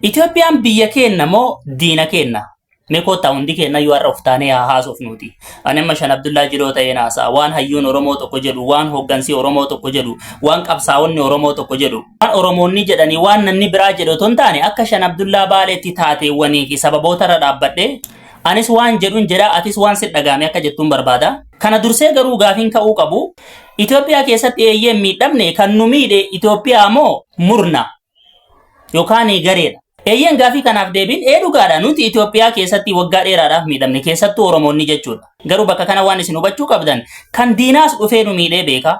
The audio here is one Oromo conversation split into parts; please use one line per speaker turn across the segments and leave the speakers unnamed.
Itoophiyaan biyya keenna moo diina keenna? Mee koottaa hundi keenna yoo har'a of taanee haa haasofnuuti. Ani amma Shan Abdullaa Jiloo ta'een haasa'a. Waan hayyuun Oromoo tokko jedhu, waan hooggansii Oromoo tokko jedhu, waan qabsaa'onni Oromoo tokko jedhu, waan Oromoonni jedhanii waan namni biraa jedhu otoo hin taane akka Shan Abdullaa Baaleetti taateewwanii fi sababoota irra dhaabbadhee anis waan jedhun jedha atis waan sit dhaga'ame akka jettuun barbaada. Kana dursee garuu gaafiin ka'uu qabu Itoophiyaa keessatti eeyyeen miidhamne kan nu miidhe Itoophiyaa moo murna? yookaan gareedha. Eeyyeen gaafii kanaaf deebiin ee dhugaadha nuti Itoophiyaa keessatti waggaa dheeraadhaaf miidhamne keessattuu Oromoonni jechuudha. Garuu bakka kana waan isin hubachuu qabdan kan diinaas dhufee nu miidhee beeka.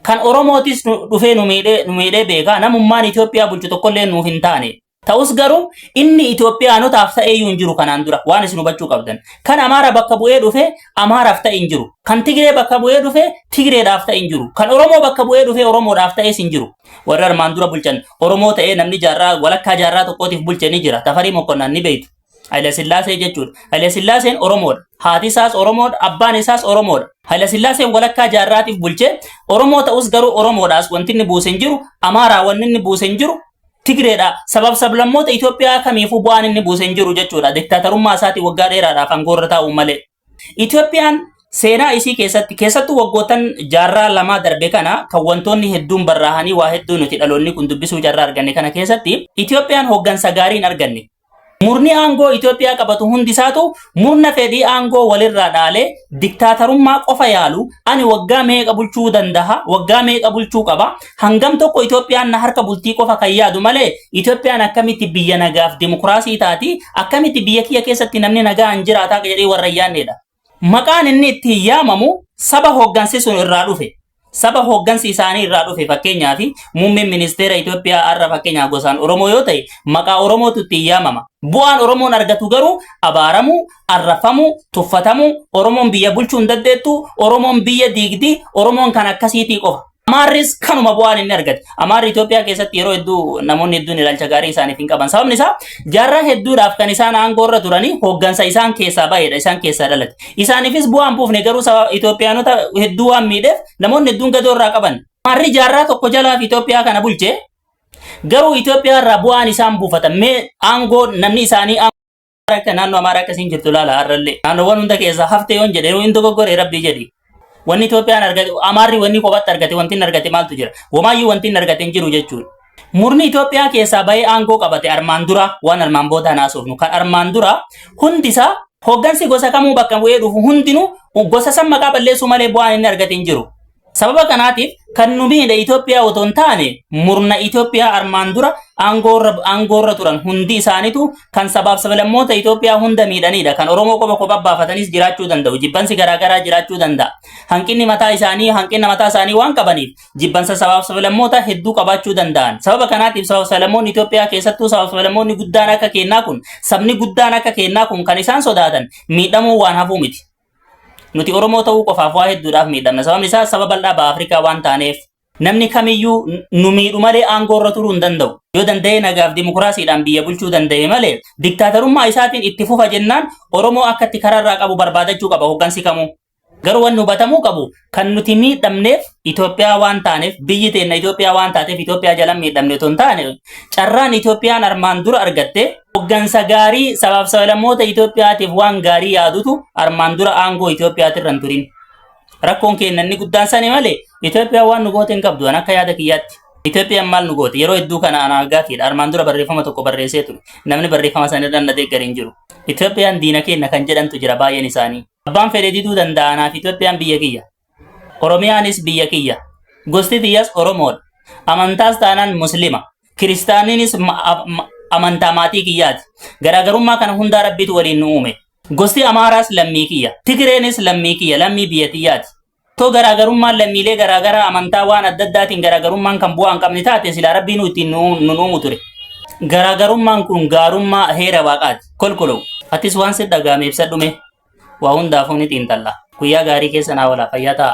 Kan Oromootis nu- dhufee nu miidhee nu miidhee beeka. Namummaan Itoophiyaa bulchu tokkollee nuuf hin taane. Ta'us garuu inni Itoophiyaanotaaf ta'ee iyyuu hin jiru kanaan dura waan isin hubachuu qabdan. Kan Amaara bakka bu'ee dhufe Amaaraaf ta'e hin jiru. Kan Tigree bakka bu'ee dhufe Tigreedhaaf ta'e hin jiru. Kan Oromoo bakka bu'ee dhufe Oromoodhaaf ta'es hin jiru. Warri armaan dura bulchan Oromoo ta'ee namni jaarraa walakkaa jaarraa tokkootiif bulche ni jira. Tafarii Mokkonnaan ni beektu. Haile Sillaasee jechuudha. Haile Sillaaseen Oromoodha. Haati isaas Oromoodha. Abbaan isaas Oromoodha. Haile Sillaaseen walakkaa jaarraatiif bulche Oromoo ta'us garuu Oromoodhaas wanti inni buuse hin jiru. Amaaraa wanni inni buuse hin jiru. Tigreedha. Sabab sablammoota Itoophiyaa kamiifuu bu'aan inni buuse hin jiru jechuudha. Diktaatarummaa isaatiin waggaa dheeraadhaaf aangoorra taa'uun malee. Itoophiyaan seenaa isii keessatti keessattuu waggoottan jaarraa lamaa darbe kana kan wantoonni hedduun barraahanii waa hedduu nuti dhaloonni kun dubbisuu carraa arganne kana keessatti Itoophiyaan hooggansa gaarii hin arganne. Murni aangoo Itoophiyaa qabatu hundi isaatu murna fedhii aangoo walirraa dhaalee diktaatarummaa qofa yaalu ani waggaa meeqa bulchuu dandaha waggaa meeqa bulchuu qaba Hangam tokko Itoophiyaan na harka bultii qofa kan yaadu malee Itoophiyaan akkamitti biyya nagaaf dimokiraasii taati akkamitti biyya kiyya keessatti namni nagaan jiraataa jedhee warra hin yaadneedha. Maqaan inni ittiin yaamamu saba hooggansi sun irraa dhufe. Saba hooggansi isaanii irraa dhufe fakkeenyaaf muummeen ministeera Itoophiyaa har'a fakkeenyaaf gosaan Oromoo yoo ta'e maqaa Oromootu ittiin yaamama. Bu'aan Oromoon argatu garuu abaaramuu, arrafamuu, tuffatamuu, Oromoon biyya bulchuu hin dandeettu, Oromoon biyya diigdi, Oromoon kan akkasiitii qofa. Amaarris kanuma bu'aan inni argate. Amaarri Itoophiyaa keessatti yeroo hedduu namoonni hedduun ilaalcha gaarii isaaniif hin qaban. Sababni isaa jaarraa hedduudhaaf kan isaan aangoo irra turanii hooggansa isaan keessaa ba'edha, isaan keessaa dhalate. Isaaniifis bu'aan buufne garuu sababa Itoophiyaanota hedduu waan miidheef namoonni hedduun gadoo irraa qaban. Amaarri jaarraa tokko jalaaf Itoophiyaa kana bulche garuu Itoophiyaa irraa bu'aan isaan buufatan mee aangoo namni isaanii akka naannoo amaaraa akkasiin jirtu ilaala har'allee naannoowwan hunda keessaa haftee yoon jedhe yoo hin dogoggore rabbii jedhi wanni Itoophiyaan argate amaarri wanni kophaatti argate wanti hin argate maaltu jira wamaayyuu wanti hin argate hin jiru jechuudha. Murni Itoophiyaa keessaa bahee aangoo qabate armaan dura waan armaan booda naasofnu kan armaan dura hundi isaa hoggansi gosa kamuu bakka bu'ee dhufu hundinuu gosa san maqaa balleessuu malee bu'aan inni argate hin jiru. Sababa kanaatiif kan nu miidhe Itoophiyaa otoo hin taane murna Itoophiyaa armaan dura aangoorra aangoorra turan hundi isaanitu kan sabaaf sablammoota Itoophiyaa hunda miidhanidha. Kan Oromoo qofa kophaa baafatanis jiraachuu danda'u. Jibbansi garaagaraa jiraachuu danda'a. Hanqinni mataa isaanii hanqina mataa isaanii waan qabaniif jibbansa sabaaf sablammoota hedduu qabaachuu danda'an. Sababa kanaatiif sabaaf sablammoonni Itoophiyaa keessattuu sabaaf sablammoonni guddaan akka keennaa kun sabni guddaan akka keennaa kun kan isaan sodaatan miidhamuu waan hafuu miti. Nuti Oromoo ta'uu qofaaf waa hedduudhaaf miidhamna. Sababni isaa saba bal'aa baha Afrikaa waan taaneef. Namni kamiyyuu n- nu miidhu malee aangoo irra turuu hin danda'u. Yoo danda'ee nagaaf dimokiraasiidhaan biyya bulchuu danda'e malee diktaatarummaa isaatiin itti fufa jennaan Oromoo akka itti karaa irraa qabu barbaadachuu qaba hooggansi kamuu. Garuu wanni hubatamuu qabu kan nuti miidhamneef Itoophiyaa waan taaneef biyyi teenna Itoophiyaa waan taateef Itoophiyaa jalan miidhamne otoo hin taane carraan Itoophiyaan armaan dura argatte hoggansa gaarii sabaaf sablammoota Itoophiyaatiif waan gaarii yaadutu armaan dura aangoo Itoophiyaati irra hin turin. Rakkoon keenya inni guddaan sani malee Itoophiyaan waan nu goote hin qabdu an akka yaada kiyyaatti. Itoophiyaan maal nu goote yeroo hedduu kana anaa gaafiidha armaan dura barreeffama tokko barreessee ture namni barreeffama sana irra na deeggare hin jiru. Itoophiyaan diina keenya kan jedhantu jira baay'een isaanii. Abbaan fedhe diduu danda'a anaaf Itoophiyaan biyya kiyya. Oromiyaanis biyya kiyya. Gosti tiyyas Oromoodha. Amantaas taanaan Muslima. Kiristaaniinis ma- a- ma- amantaa maatii kiyyaati. Garaagarummaa kana hundaa rabbiitu waliin nu uume. Gosti Amaaraas lammii kiyya. Tigireenis lammii kiyya, lammii biyya tiyyaati. Too garaagarummaan lammiilee garaagaraa amantaa waan adda addaatiin garaagarummaan kan bu'aa hin qabne taate silaa rabbii nu ittiin nu nu uumu ture. Garaagarummaan kun gaarummaa heera waaqaati. Kolkolow. Atis waan si dhagaame ibsadhume. Waa hundaafuu ni xiinxalla. Guyyaa gaarii keessa naa oolaa fayyaa ta'a.